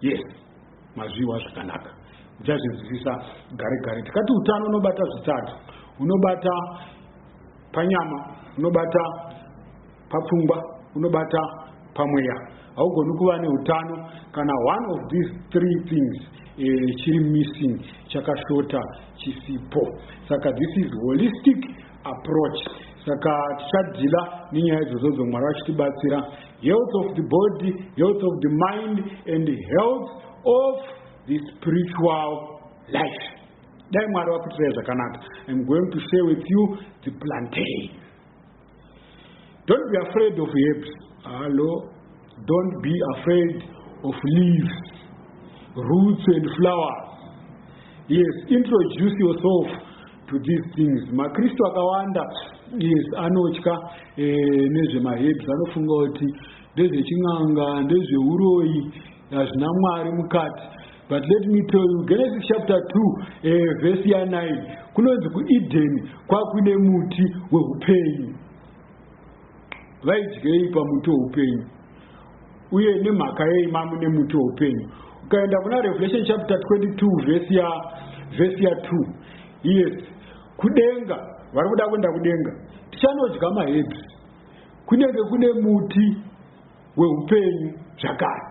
Yes, mazviwa zvakanaka. Uchazvinzwisisa gare gare. Tikati utano unobata zvitatu. Unobata panyama, unobata papfungwa, unobata pamweya. Haugoni kuva neutano kana one of these three things eh, chiri missing chakashota chisipo. Saka this is holistic approach saka tichadhila nenyaya idzozodzo mwari vachitibatsira health of the body health of the mind and health of the spiritual life dai mwari vakuitirai zvakanaka im going to share with you the plantain don't be afraid of herbs hallo Don't be afraid of leaves, roots and flowers. Yes, introduce yourself to these things. MaKristu akawanda yes anotya eh, nezvemaherbs anofunga kuti ndezvechin'anga ndezveuroyi hazvina mwari mukati but let me tell you genesis chapter 2 eh, vhesi ya 9 kunonzi kuedeni kwakuine muti weupenyu vaidyei pamuti weupenyu uye nemhaka yei mamu nemuti weupenyu ukaenda kuna revelation chapter 22 vhesi ya vhesi ya 2 yes kudenga vari kuda kuenda kudenga tichanodya mahebhi kunenge kune muti weupenyu zvakare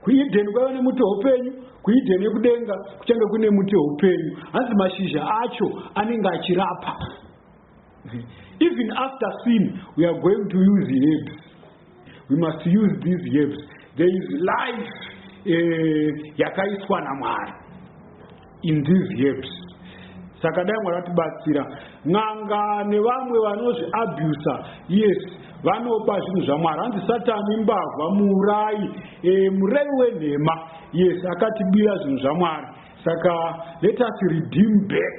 kuedheni kwaiva nemuti weupenyu kuedheni yekudenga kuchange kune muti weupenyu hanzi mashizha acho anenge achirapa Even after sin, we are going to use herbs. We must use these herbs. There is life eh, yakaiswa namwari in these herbs saka dai mwari vatibatsira n'anga nevamwe vanozviabusa yes vanopa zvinhu zvamwari hanzi satani imbavha muurai e, eh, murevi wenhema yes akatibira zvinhu zvamwari saka let us redeem back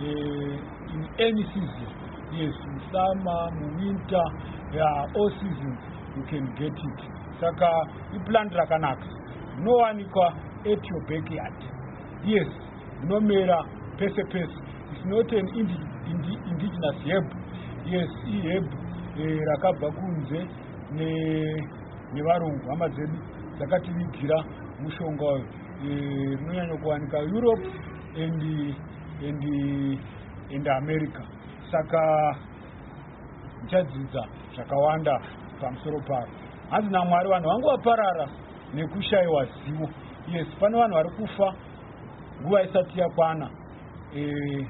Uh, in any season, yes, in summer, in winter, yeah, all seasons you can get it. Saka iplant rakanaka rinowanikwa at your backyard. Yes, rinomera pese pese. It's not an indi, indi, indigenous herb. Yes, iherb eh, rakabva kunze ne nevarungu hama dzedu dzakativigira mushonga uyu eh, rinonyanya kuwanika europe and and and America saka ndichadzidza zvakawanda pamusoro paro hanzi naMwari vanhu vangu vaparara nekushaiwa zivo yes pane vanhu vari kufa nguva isati yakwana e,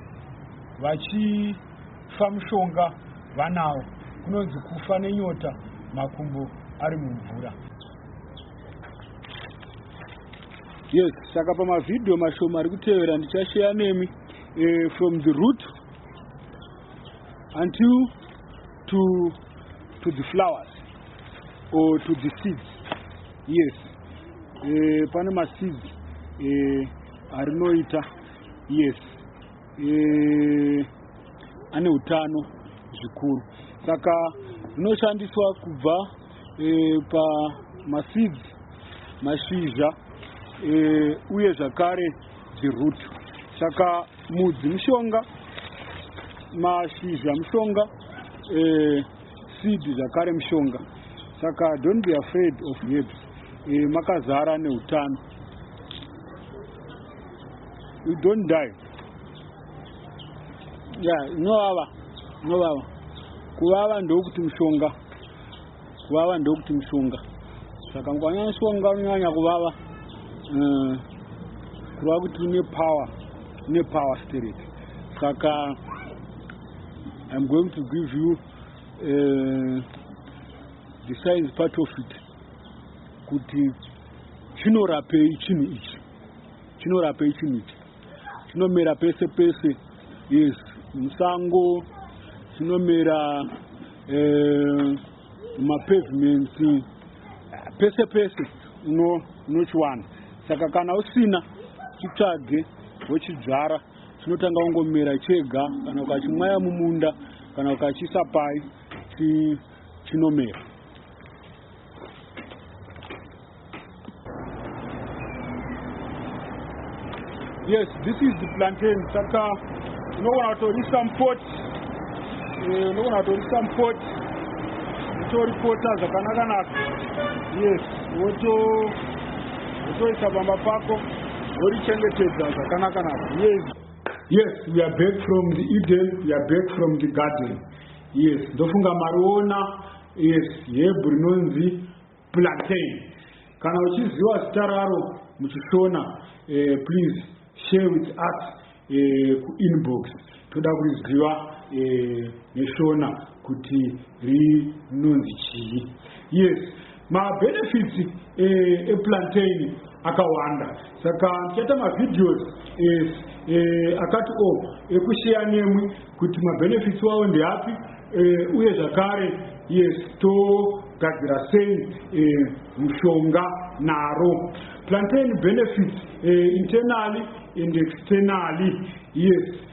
vachifa mushonga vanawo kunonzi kufa nenyota makumbo ari mumvura yes saka pamavhidhiyo mashoma ari kutevera ndichasheya nemi uh, from the root until to, to the flowers or to the seeds yes uh, pane maseeds uh, arinoita yes uh, ane utano zvikuru saka rinoshandiswa kubva e, pamaseeds mashizha e, uye zvakare dziroot saka mudzi mushonga mashizha mushonga e, seed zvakare mushonga saka don't be afraid of herbs e, makazara neutano we don't die ya yeah, inovava inovava kuvava ndokuti mushonga kuvava ndokuti mushonga saka mukanya mushonga unonyanya kuvava eh, kureva kuti une power une power spirit saka i'm going to give you uh, the science part of it kuti chinorapei chinhu ichi chinorapei chinhu ichi Tinomera pese pese. Yes, musango tinomera eh, mapavements pese pese uno unochiwana. Saka kana usina chitsvage wochidzvara chinotanga kungomera chega kana ukachimwaya mumunda kana ukachisa pai chinomera. yes this is the plantain saka unogona kutorisa mupot eh, unogona kutorisa mupot utoripota zvakanaka naka yes woto wotoisa pamba pako worichengetedza zvakanaka naka yes yes we are back from the eden we are back from the garden Yes, ndofunga mariona. Yes, yebhu rinonzi plantain. Kana uchiziva zita raro muchishona, eh, please share with us eh, kuinbox. Toda kuriziva eh, neshona kuti rinonzi chii. Yes. Mabenefits eh, eplantain akawanda saka ndichaita mavideos eh, eh, akati o oh, ekusheya nemwi kuti mabenefits wawo ndeapi eh, uye zvakare yes togadzira sei eh, mushonga naro plantain benefits eh, internally and externally yes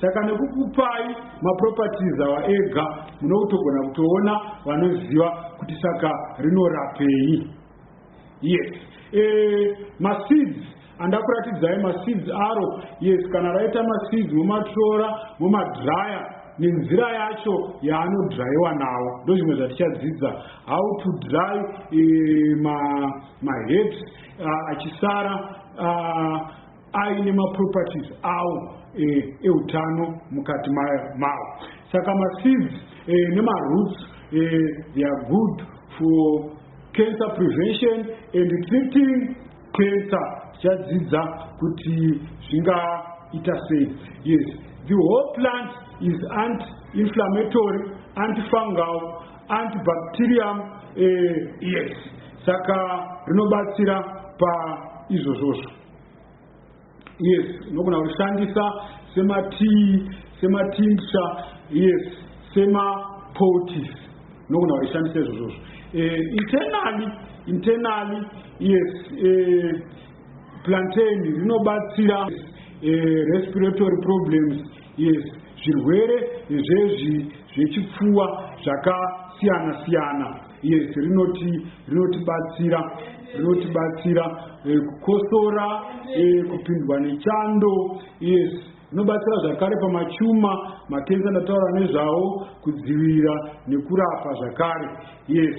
Saka nekukupai maproperties awa ega munokutogona kutoona vanoziva kuti saka rinorapei. Yes. E, maseeds andakuratidzai maseeds aro. Yes, kana raita maseeds momatora momadryer nenzira yacho yaanodryiwa nawo ndozvimwe zvatichadzidza how to dry e, maherbs ma uh, achisara uh, aine maproperties awo eutano e mukati mawo saka maseeds e, nemaroots e, they are good for cancer prevention and treating cancer tichadzidza kuti zvingaita sei yes the whole plant is anti inflammatory anti fungal anti bacterium eh, yes saka rinobatsira paizvozvozvo yes unogona kushandisa sematii sematincture yes semapotis unogona kushandisa izvozvozvo eh, internally internally yes eh, plantain rinobatsira eh, respiratory problems yes zvirwere zvezvi zvechipfuwa zvakasiyana siyana Yes, rinoti rinotibatsira rinotibatsira eh, kukosora eh, kupindwa nechando yes rinobatsira zvakare pamachuma makenza ndataura nezvawo kudzivirira nekurapa zvakare yes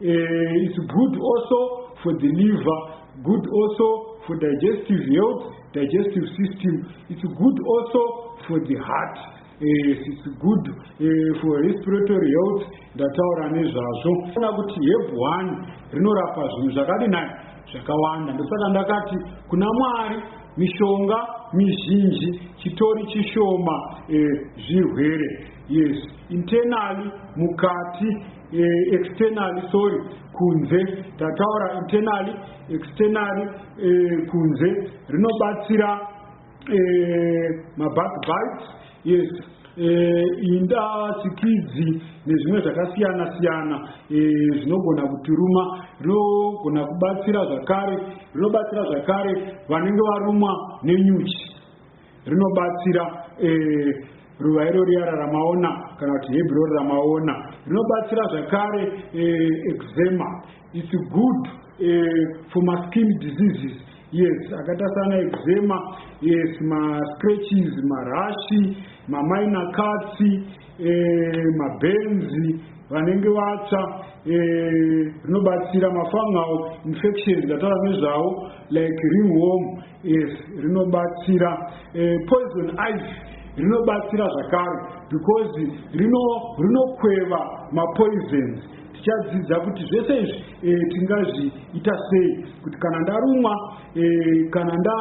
eh, it's good also for the liver good also for digestive health digestive system it's good also for the heart Yes, it's good uh, for respiratory health ndataura nezvazvo ona kuti heb one rinorapa zvinhu zvakadi nai zvakawanda ndosaka ndakati kuna mwari mishonga mizhinji chitori chishoma uh, zvirwere yes internally mukati uh, externally sorry kunze tataura internally externally uh, kunze rinobatsira eh, mabackbites yes eh, inda chikidzi nezvimwe zvakasiyana siyana eh, zvinogona eh, kutiruma rinogona kubatsira zvakare rinobatsira zvakare vanenge varumwa nenyuchi rinobatsira eh, ruva iro riya raramaona kana kuti hebhurori ramaona rinobatsira zvakare eh, exema It's good uh, for my skin diseases. Yes, akata sana eczema, yes, ma scratches, ma rashi, ma minor cuts, eh, ma benzi, vanenge vatsva eh, rinobatsira eh, mafungal infections atara nezvawo like ringworm yes rinobatsira eh, poison ice rinobatsira zvakare because rinokweva rino mapoisons Tichadzidza kuti zvese izvi e, tingazviita sei kuti kana ndarumwa e, kana nda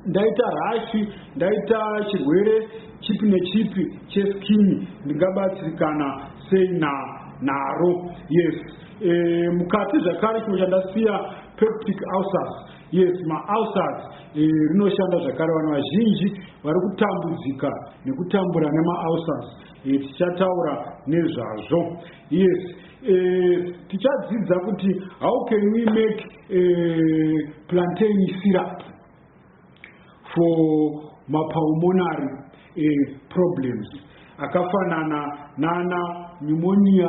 ndaita rashi ndaita chirwere chipi nechipi cheskini ndingabatsirikana sei na naro yes e, mukati zvakare chimwe chandasiya peptic ulcers yes maulcers e, rinoshanda zvakare vanhu vazhinji vari kutambudzika nekutambura nemaulcers Eh, tichataura nezvazvo yes eh, tichadzidza kuti how can we make eh, plantain syrup for mapulmonary problems akafanana nana pneumonia